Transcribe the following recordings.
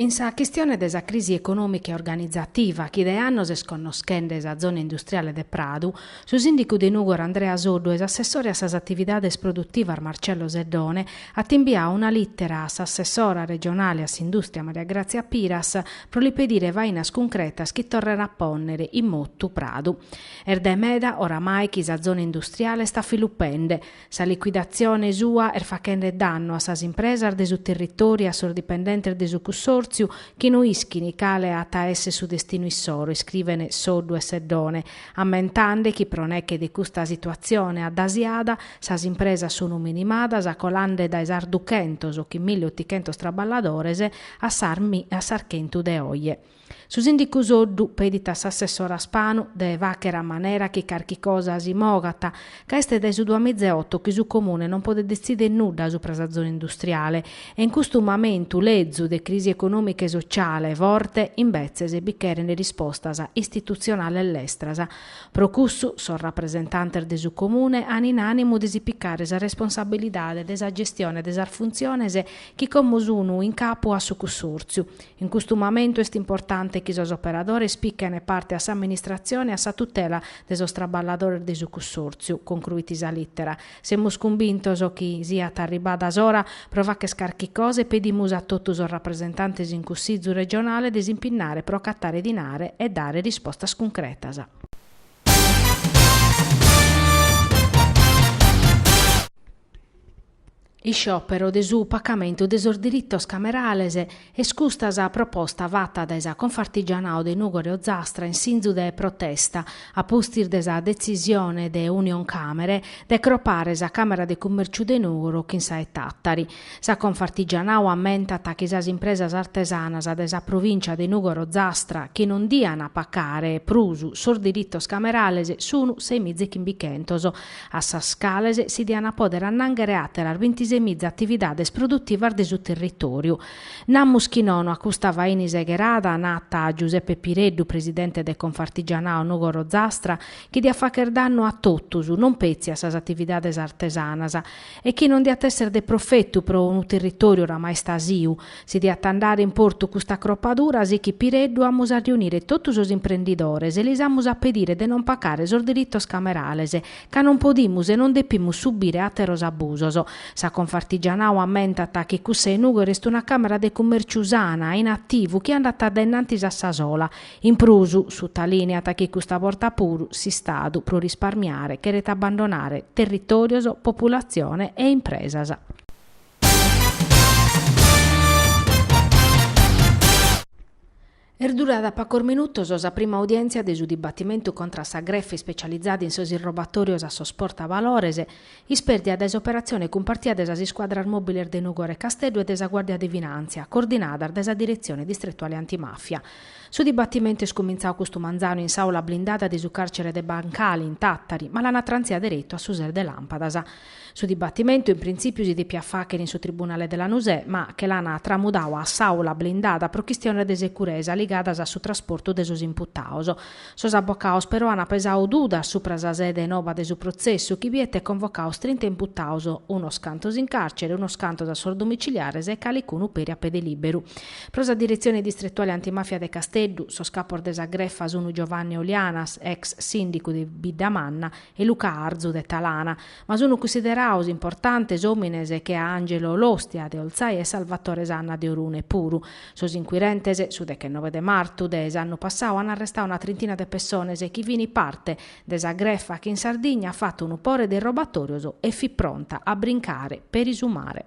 In sa chistione de sa crisi econòmica e organizativa chi de annos est connoschende sa zona industriale de Pradu, su sìndicu de Nùgoro Andrea Soddu e s'assessore a sas atividades produtivas Marcello Seddone ant imbiau una lìtera a s'assessora regionale a s'indùstria Maria Grazia Piras pro li pedire fainas cuncretas chi torren a pònnere in motu Pradu. Est dae meda oramai chi sa zona industriale est afilupende, Sa liquidatzione sua est fachende dannu a sas impresas de su territòriu e a sos dipendentes de su cussòrtziu chi no ischin cale at a èssere su destinu issoro, iscriven Soddu e Seddone, ammentende chi pro neche de custa situatzione addasiada sas impresas sun minimadas colande dae sas duchentos chin milli otichentos traballadores a sas a sas chentu de oje. Su sìndicu Soddu pedit a s'assessora Spanu de fàchere a manera chi carchi cosa si mogat, ca est dae su duamizaeoto chi su Comune non podet detzìdere nudda supra sa zona industriale e in custu mamentu lezu de crisi econòmica e sotziale forte imbetzes bi cherent rispostas istitutzionales lestras. Pro cussu sos rapresentantes de su Comune ant in ànimu de si picare sa responsabilidade de sa gestione de sas funtziones chi como sun in capu a su cussòrtziu, In custu mamentu est importante chi sos operadores pichene parte a s'amministratzione e a sa tutela de sos traballadores de su cussòrtziu, concruit sa lìtera. Semus cumbintos chi siat arribada s'ora pro fàchere carchi cosa e pedimus a totu sos rapresentantes in Cussizu regionale de s'impinnare pro acatare dinare e dare rispostas cuncretas. Isciòperu de su pacamentu de sos diritos camerales est custa sa proposta fata dae sa Confartigianao de Nùgoro e Ozastra in sinzu de protesta a pustis de sa detzisione de Unioncàmere de cropare sa Càmera de Cummèrciu de Nùgoro chin sa 'e Tàtari. Sa Confartigianao ammentat chi sas impresas artesanas de sa provìncia de Nùgoro Ozastra chi non dian pacare prus sos diritos camerales sunu semizaechimbichentos a sas cales si diant a pòdere annànghere àteras bintisemiza atividades produtivas de su territòriu. Namus chi nono a custa faina isegherada, nat Giuseppe Pireddu, presidente de Confartigianao Nùgoro Ozastra, chi diat fàchere dannu a totus, non petzi a sas atividades artesanas, e chi non diat èssere de profetu pro unu territòriu oramai istasiu. Si diat andare in portu custa cropadura, sichit Pireddu, amus a riunire totu sos imprendidores e lis amus a pedire de non pacare sos diritos camerales, ca non podimus e non depimus subire àteros abusos. Sa Confartigianao ammentat chi cussa 'e Nùgoro est una càmera de cummèrciu sana, in ativu, chi andat dae innantis a sa sola, In prus, sutalìniat chi custa borta puru s'Istadu, pro risparmiare, cheret abbandonare territòrios, populatzione e impresas. Est durada pagos minutos sa prima audièntzia de su dibatimentu contra sa grefa ispecializada in sos irrobatòrios a sos portavalores, Ispèrdia dae s'operatzione cumpartia de sas iscuadras mòbiles de Nùgoro e Casteddu e de sa Guàrdia de Finàntzia, coordinadas dae sa Diretzione Distretuale Antimàfia. Su dibatimentu est cumintzadu custu manzanu in s'àula blindada de su càrcere de Bancali, in Tàtari, ma l'an trantziu deretu a su ses de Làmpadas. Su dibatimentu, in printzìpiu, si depiat fàghere in su tribunale de Lanusè, ma che l'an tramudadu a s'àula blindada pro chistiones de securesa ligadas a su trasportu de sos imputados. Sos abocados però ant pesadu dudas supra sa sede noba de su protzessu chi biet convocados trinta imputados, unos cantos in càrcere, unos cantos a sos domiciliares e calicunu peri a pede lìberu. Pro sa diretzione distretuale antimàfia de Casteddu, sos capos de sa grefa sunt Giovanni Olianas, ex sìndicu de Biddamanna, e Luca Arzu de Talana. Ma sunu cussideraus importantes òmines che a Angelo Lostia de Olzai e Salvatore Sanna de Orune puru. Sos inquirentes, su dechenove de martu de s'annu passau an arrestau una trintina de pessones chi fini parte de sa grefa chi in Sardigna at fatu unu pore de robatorios e fit pronta a brincare peri su mare.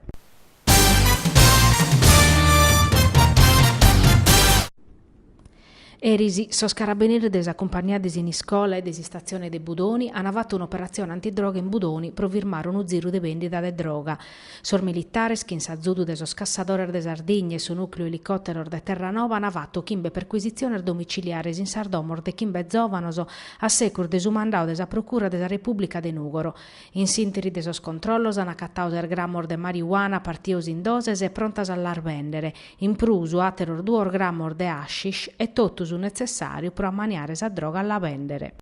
Eris sos carabineris de sa cumpagnia de Siniscola e de s'istatzione de Budoni an fatu un'operatzione antidroga in Budoni pro firmare unu ziru de bèndida de droga. Sos militares, chin s'azudu de sos Cassadores de Sardigna e su nùcleu elicòteros de Terranova an fatu chimbe percuisitziones domiciliares in sas domos de chimbe zòvanos a segus de su mandadu de sa Procura de sa Repùblica de Nùgoro. In s'ìnteri de sos controllos an acatadu ses gramos de mariuana partidos in doses e prontas a las bèndere. In prus, àteros duos grammos de hashish e totu su netzessàriu pro ammaniare sa droga a la bèndere.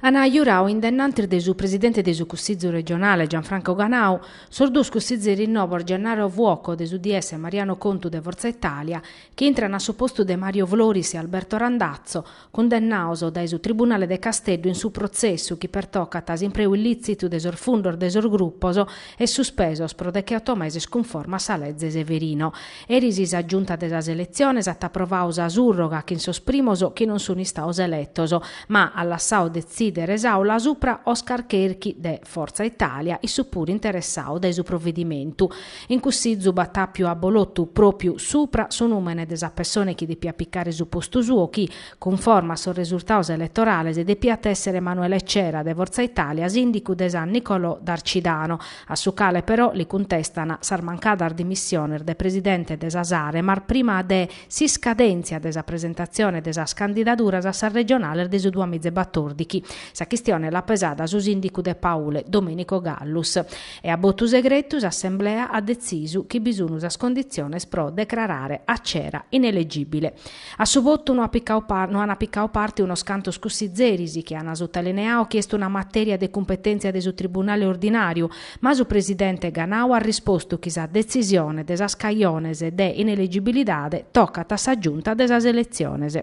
An giuradu in dennantis de su presidente de su Cussizu regionale, Gianfranco Ganau, sos duos cussizeris novos Gennaro Fuoco de s'UDS e Mariano Contu de Forza Italia, chi intrana a su postu de Mario Floris e Alberto Randazzo, cundennados dae su Tribunale de Casteddu in su protzessu chi pertocat s'impreu illìtzitu de sos fundos de sos grupos e suspesos pro decheoto meses cunforma a sa Leze Severino. Eris sa Giunta de sas Eletziones at aprovadu sa surroga chin sos primos chi non sun istados eletos, ma at lassadu detzìdere s'Aula subra Oscar Cherchi de Forza Italia, issu puru interessadu dae su provedimentu. In cuss'izzu b'at àpiu a bolotu, pròpiu supra su nùmene de sa pessone chi depiat picare su postu suo chi, cunforma a sos resurtados eletorales, depiat èssere Emanuele Cera de Forza Italia, sìndicu de San Nicolò d'Arcidano, a su cale però li cuntestan sas mancadas dimissiones de presidente de sa Saremar prima de s'iscadèntzia de sa presentatzione de sas candidaduras a sas regionales de su duamiza e batòrdighi. Sa chistione l'at pesada su sìndicu de Paule, Domenico Gallus. e a botu segretu s'assemblea at detzisu chi bi sunu sas conditziones pro decrarare a Cera inelegìbile. A su votu no an picadu parte unos cantos cussizeris chi an sotolineadu chi est una matèria de cumpetèntzia de su tribunale ordinàriu, ma su presidente Ganau at rispostu chi sa detzisione de sas cajones de inelegibilidade tocat a sa Giunta de sas eletziones.